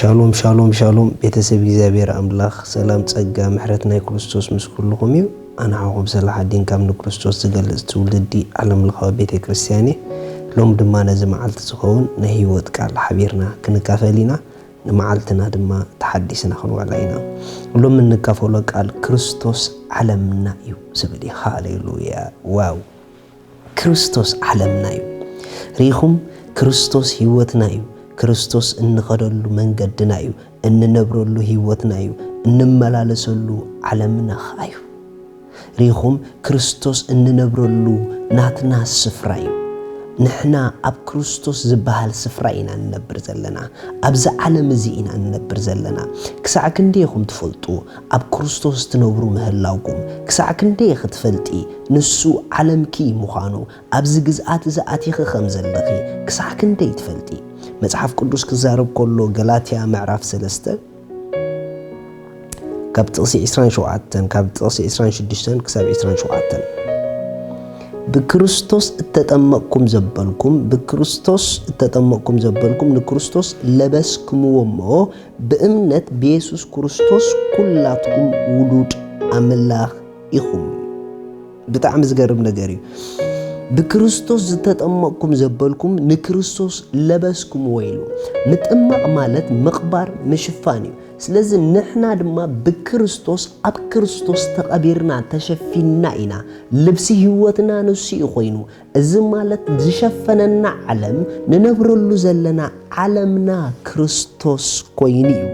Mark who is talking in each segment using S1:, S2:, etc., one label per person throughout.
S1: ሻሎም ሻሎም ሻሎም ቤተሰብ እግዚኣብሔር ኣምላኽ ሰላም ጸጋ ምሕረት ናይ ክርስቶስ ምስ ኩልኹም እዩ ኣንሓኹም ስለ ሓዲን ካብ ንክርስቶስ ዝገልጽ ትውልዲ ዓለም ለኻዊ ቤተ ክርስቲያን እየ ሎም ድማ ነዚ መዓልቲ ዝኸውን ናይ ህይወት ቃል ሓቢርና ክንካፈል ኢና ንመዓልትና ድማ ተሓዲስና ክንውዕላ ኢና ሎም እንካፈሎ ቃል ክርስቶስ ዓለምና እዩ ዝብል እዩ ሃሌሉያ ዋው ክርስቶስ ዓለምና እዩ። ርኢኹም፣ ክርስቶስ ህይወትና እዩ። ክርስቶስ እንኸደሉ መንገድና እዩ፣ እንነብረሉ ህይወትና እዩ፣ እንመላለሰሉ ዓለምና ኸኣ እዩ። ርኢኹም፣ ክርስቶስ እንነብረሉ ናትና ስፍራ እዩ። ንሕና ኣብ ክርስቶስ ዝበሃል ስፍራ ኢና ንነብር ዘለና። ኣብዚ ዓለም እዚ ኢና ንነብር ዘለና። ክሳዕ ክንደይ ኢኹም ትፈልጡ? ኣብ ክርስቶስ ትነብሩ ምህላውኩም ክሳዕ ክንደይ ኢኺ ትፈልጢ? ንሱ ዓለምኪ ምዃኑ፣ ኣብዚ ግዝኣት እዚ ኣቲኺ ኸም ዘለኺ ክሳዕ ክንደይ ትፈልጢ? መጽሓፍ ቅዱስ ክዛረብ ከሎ ገላትያ ምዕራፍ ሰለስተ ካብ ጥቕሲ ዕስራን ሸውዓተን ካብ ጥቕሲ ዕስራን ሽዱሽተን ክሳብ ዕስራን ሸውዓተን ብክርስቶስ እተጠመቕኩም ዘበልኩም ብክርስቶስ እተጠመቕኩም ዘበልኩም ንክርስቶስ ለበስክምዎ እሞ ብእምነት ብየሱስ ኩርስቶስ ኩላትኩም ውሉድ ኣምላኽ ኢኹም። ብጣዕሚ ዝገርም ነገር እዩ። ብክርስቶስ ዝተጠመቕኩም ዘበልኩም ንክርስቶስ ለበስኩምዎ ኢሉ። ምጥማቕ ማለት ምቕባር ምሽፋን እዩ። ስለዚ ንሕና ድማ ብክርስቶስ ኣብ ክርስቶስ ተቐቢርና ተሸፊንና ኢና። ልብሲ ህይወትና ንሱ እዩ ኮይኑ። እዚ ማለት ዝሸፈነና ዓለም ንነብረሉ ዘለና ዓለምና ክርስቶስ ኮይኑ እዩ።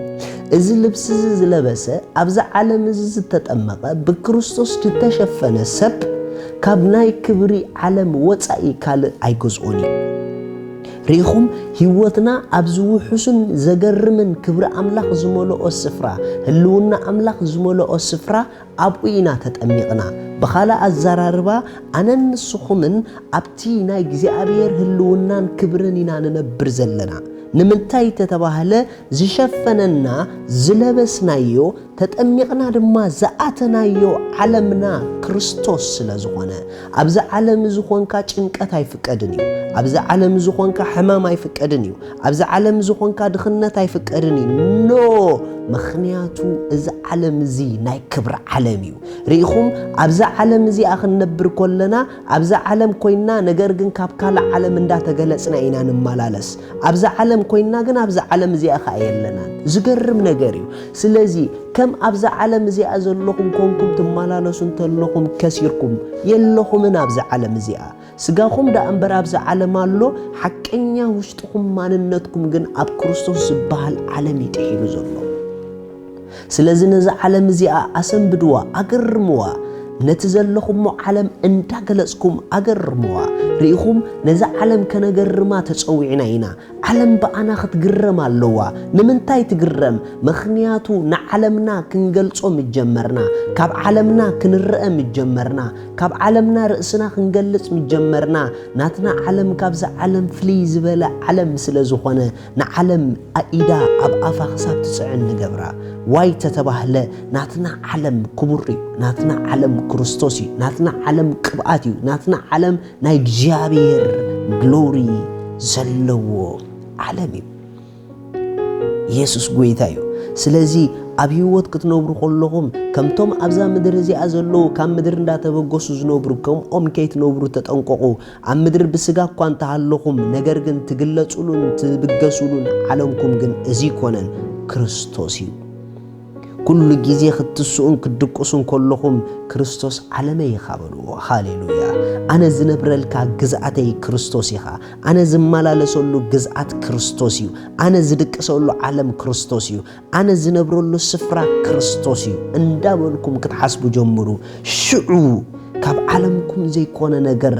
S1: እዚ ልብሲ እዚ ዝለበሰ ኣብዚ ዓለም እዚ ዝተጠመቐ ብክርስቶስ ዝተሸፈነ ሰብ ካብ ናይ ክብሪ ዓለም ወፃኢ ካልእ ኣይገዝኦን እዩ። ርኢኹም ህይወትና ኣብዚ ውሑስን ዘገርምን ክብሪ ኣምላኽ ዝመልኦ ስፍራ ህልውና ኣምላኽ ዝመልኦ ስፍራ ኣብኡ ኢና ተጠሚቕና። ብኻልእ ኣዘራርባ ኣነን ንስኹምን ኣብቲ ናይ እግዚኣብሔር ህልውናን ክብርን ኢና ንነብር ዘለና። ንምንታይ እንተተባህለ ዝሸፈነና ዝለበስናዮ ተጠሚቕና ድማ ዝኣተናዮ ዓለምና ክርስቶስ ስለ ዝኾነ። ኣብዚ ዓለም እዚ ኾንካ ጭንቀት ኣይፍቀድን እዩ። ኣብዚ ዓለም እዚ ኾንካ ሕማም ኣይፍቀድን እዩ። ኣብዚ ዓለም እዚ ኾንካ ድኽነት ኣይፍቀድን እዩ ኖ ምኽንያቱ እዚ ዓለም እዚ ናይ ክብሪ ዓለም እዩ ርኢኹም ኣብዚ ዓለም እዚኣ ክንነብር ኮለና ኣብዚ ዓለም ኮይና ነገር ግን ካብ ካልእ ዓለም እንዳተገለጽና ኢና ንመላለስ ኣብዚ ዓለም ኮይና ግን ኣብዚ ዓለም እዚኣ ከኣ የለናን ዝገርም ነገር እዩ ስለዚ ከም ኣብዚ ዓለም እዚኣ ዘለኹም ኮንኩም ትመላለሱ እንተለኹም ከሲርኩም የለኹምን ኣብዚ ዓለም እዚኣ ስጋኹም ደኣ እምበር ኣብዚ ዓለም ኣሎ፣ ሓቀኛ ውሽጥኹም ማንነትኩም ግን ኣብ ክርስቶስ ዝበሃል ዓለም እዩ ጥሒሉ ዘሎ። ስለዚ ነዛ ዓለም እዚኣ ኣሰንብድዋ፣ ኣገርምዋ። ነቲ ዘለኹሞ ዓለም እንዳገለጽኩም ኣገርምዋ። ርኢኹም፣ ነዛ ዓለም ከነገርማ ተጸዊዕና ኢና። ዓለም ብኣና ክትግረም ኣለዋ። ንምንታይ ትግረም? ምኽንያቱ ንዓለምና ክንገልጾ ምስ ጀመርና፣ ካብ ዓለምና ክንረኣ ምስ ጀመርና፣ ካብ ዓለምና ርእስና ክንገልጽ ምስ ጀመርና፣ ናትና ዓለም ካብዛ ዓለም ፍልይ ዝበለ ዓለም ስለ ዝኾነ ንዓለም ኣኢዳ ኣብ ኣፋ ክሳብ ትጽዕን ንገብራ። ዋይ ተተባህለ ናትና ዓለም ክቡር'ዩ፣ ናትና ዓለም ክርስቶስ'ዩ፣ ናትና ዓለም ቅብኣት'ዩ፣ ናትና ዓለም ናይ እግዚኣብሔር ግሎሪ ዘለዎ ዓለም እዩ ኢየሱስ ጎይታ እዩ ስለዚ ኣብ ህይወት ክትነብሩ ከለኹም ከምቶም ኣብዛ ምድሪ እዚኣ ዘለዉ ካብ ምድሪ እንዳተበገሱ ዝነብሩ ከምኦም ከይትነብሩ ተጠንቀቑ ኣብ ምድሪ ብስጋ እኳ እንተሃለኹም ነገር ግን ትግለጹሉን ትብገሱሉን ዓለምኩም ግን እዚ ኮነን ክርስቶስ እዩ ኩሉ ግዜ ክትስኡን ክትድቅሱን ከለኹም ክርስቶስ ዓለመይ ኢኻ በልዎ። ሃሌሉያ! ኣነ ዝነብረልካ ግዝኣተይ ክርስቶስ ኢኻ። ኣነ ዝመላለሰሉ ግዝኣት ክርስቶስ እዩ። ኣነ ዝድቅሰሉ ዓለም ክርስቶስ እዩ። ኣነ ዝነብረሉ ስፍራ ክርስቶስ እዩ እንዳበልኩም ክትሓስቡ ጀምሩ። ሽዑ ካብ ዓለምኩም ዘይኮነ ነገር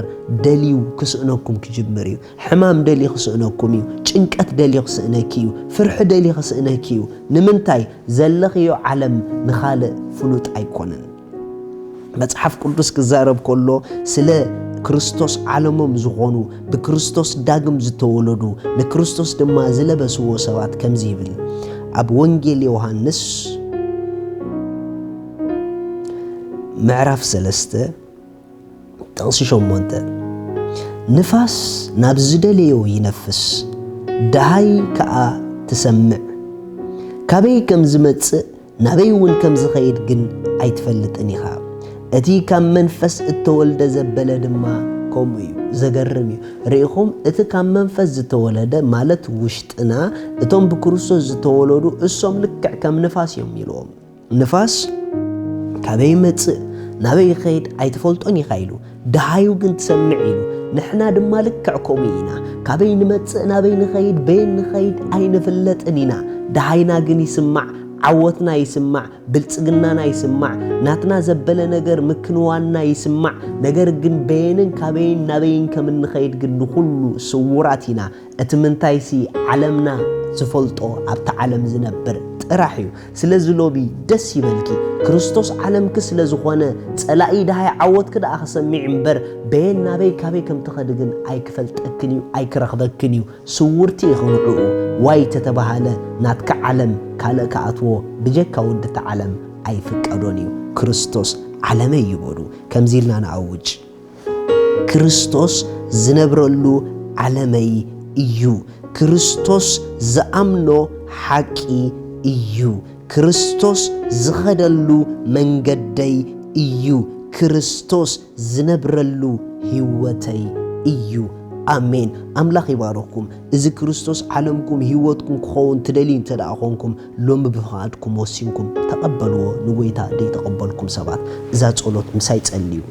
S1: ደልዩ ክስእነኩም ክጅምር እዩ። ሕማም ደልዩ ክስእነኩም እዩ። ጭንቀት ደልዩ ክስእነኪ እዩ። ፍርሒ ደልዩ ክስእነኪ እዩ። ንምንታይ? ዘለኽዮ ዓለም ንኻልእ ፍሉጥ ኣይኮነን። መጽሓፍ ቅዱስ ክዛረብ ከሎ ስለ ክርስቶስ ዓለሞም ዝኾኑ ብክርስቶስ ዳግም ዝተወለዱ ንክርስቶስ ድማ ዝለበስዎ ሰባት ከምዚ ይብል ኣብ ወንጌል ዮሃንስ ምዕራፍ ሰለስተ ጥቕሲ ሸሞንተ፣ ንፋስ ናብ ዝደለዮ ይነፍስ፣ ደሃይ ከኣ ትሰምዕ፣ ካበይ ከም ዝመጽእ ናበይውን ከም ዝኸይድ ግን ኣይትፈልጥን ኢኻ፣ እቲ ካብ መንፈስ እተወልደ ዘበለ ድማ ከምኡ እዩ። ዘገርም እዩ። ርኢኹም፣ እቲ ካብ መንፈስ ዝተወለደ ማለት ውሽጥና፣ እቶም ብክርስቶስ ዝተወለዱ እሶም ልክዕ ከም ንፋስ እዮም ኢልዎም። ንፋስ ካበይ ይመጽእ ናበይ ይኸይድ ኣይትፈልጦን ኢኻ ኢሉ ደሃዩ ግን ትሰምዕ ኢሉ ንሕና ድማ ልክዕ ከምኡ ኢና ካበይ ንመጽእ ናበይ ንኸይድ በየን ንኸይድ ኣይንፍለጥን ኢና ደሃይና ግን ይስማዕ ዓወትና ይስማዕ ብልጽግናና ይስማዕ ናትና ዘበለ ነገር ምክንዋንና ይስማዕ ነገር ግን በየንን ካበይን ናበይን ከም እንኸይድ ግን ንኹሉ ስውራት ኢና እቲ ምንታይሲ ዓለምና ዝፈልጦ ኣብታ ዓለም ዝነብር ጥራሕ እዩ ስለዚ ሎቢ ደስ ይበልኪ ክርስቶስ ዓለምኪ ስለ ዝኾነ ጸላኢ ደሃይ ዓወትኪ ደኣ ክሰሚዕ እምበር በየን ናበይ ካበይ ከም ትኸዲ ግን ኣይክፈልጠክን እዩ ኣይክረኽበክን እዩ ስውርቲ ኢኺ ንዕኡ ዋይ ተተባሃለ ናትኪ ዓለም ካልእ ክኣትዎ ብጀካ ወዲ እታ ዓለም ኣይፍቀዶን እዩ ክርስቶስ ዓለመይ እዩ በሉ ከምዚ ኢልና ንኣውጅ ክርስቶስ ዝነብረሉ ዓለመይ እዩ። ክርስቶስ ዝኣምኖ ሓቂ እዩ። ክርስቶስ ዝኸደሉ መንገደይ እዩ። ክርስቶስ ዝነብረሉ ህይወተይ እዩ። ኣሜን። ኣምላኽ ይባርኽኩም። እዚ ክርስቶስ ዓለምኩም ህይወትኩም ክኸውን ትደልዩ እንተ ደኣ ኾንኩም ሎሚ ብፍቓድኩም ወሲንኩም ተቐበልዎ ንጎይታ ደይተቐበልኩም ሰባት እዛ ጸሎት ምሳይ ጸልዩ።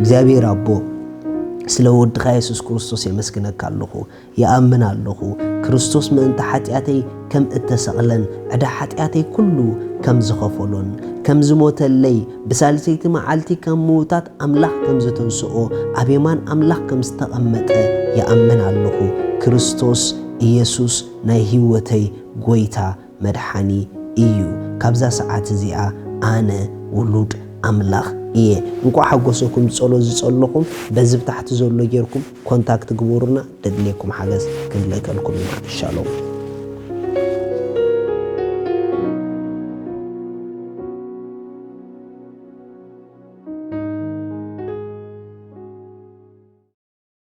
S1: እግዚኣብሔር ኣቦ ስለ ወድኻ የሱስ ክርስቶስ የመስግነካ ኣለኹ። ይኣምን ኣለኹ ክርስቶስ ምእንቲ ሓጢኣተይ ከም እተሰቕለን ዕዳ ሓጢኣተይ ኩሉ ከም ዝኸፈሎን ከም ዝሞተለይ ብሳልሰይቲ መዓልቲ ከም ምውታት ኣምላኽ ከም ዘተንስኦ ኣብ የማን ኣምላኽ ከም ዝተቐመጠ ይኣምን ኣለኹ። ክርስቶስ ኢየሱስ ናይ ሕይወተይ ጎይታ መድሓኒ እዩ ካብዛ ሰዓት እዚኣ ኣነ ውሉድ ኣምላኽ እየ። እንኳዕ ሓጎሰኩም ጸሎት ዝጸለኹም በዚ ብታሕቲ ዘሎ ጌርኩም ኮንታክት ግበሩና ደድልየኩም ሓገዝ ክንልእከልኩም ኢና ሻሎም።